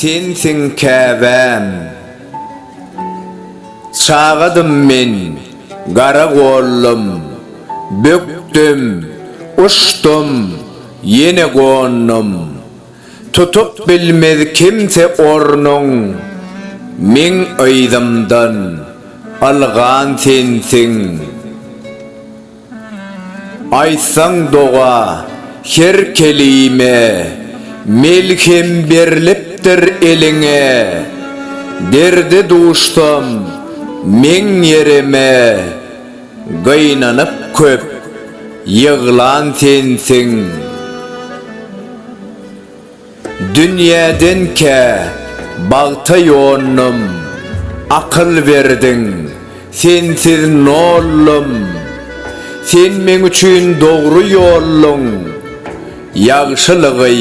Sensiň käbäm. Çagadym men, gara gollum, Bökdüm, uçdum, ýene gondum. Tutup bilmez kimse ornuň meň yzymdan ylgan sensiň Aýtsaň doga her kelime melhem berlipdir eliňe Derde duşsam meň ýerime Gynanyp köp ýyglan sensiň. Dünýäden kä bagta ýondum, Akyl berdiň, sensiz noldum. Sen meň üçin dogry ýolluň, Ýagşylygy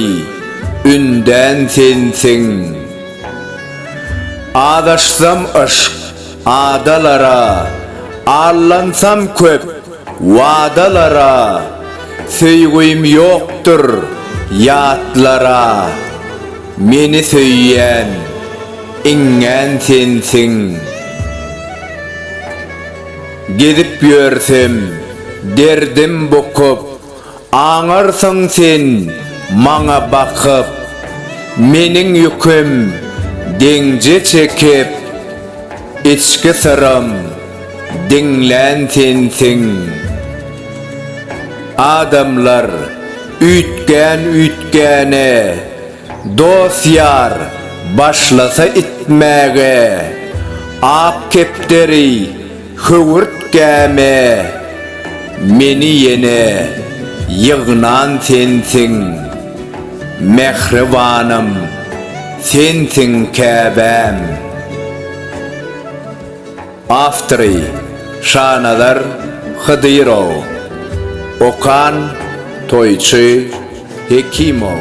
ündän sensiň. Azaşsam yşk Adalara allansam köp wadalara Söýgim ýokdur ýatlara Meni söýýän iňňän sensiň Gezip ýörsem derdim bukup Aňarsyň sen maňa bakyp, Meniň ýüküm deňje çekip, Içki syrym diňlän sensiň. Adamlar üýtgän-üýtgäne, Dost-ýar başlasa itmäge, Ak kepderi Höwürtgäme meni ýene ýygnan sensiň, mähribanym, sensiň käbäm. Awtory, Şanazar Hydyrow. Okan, Toýçy Hekimow.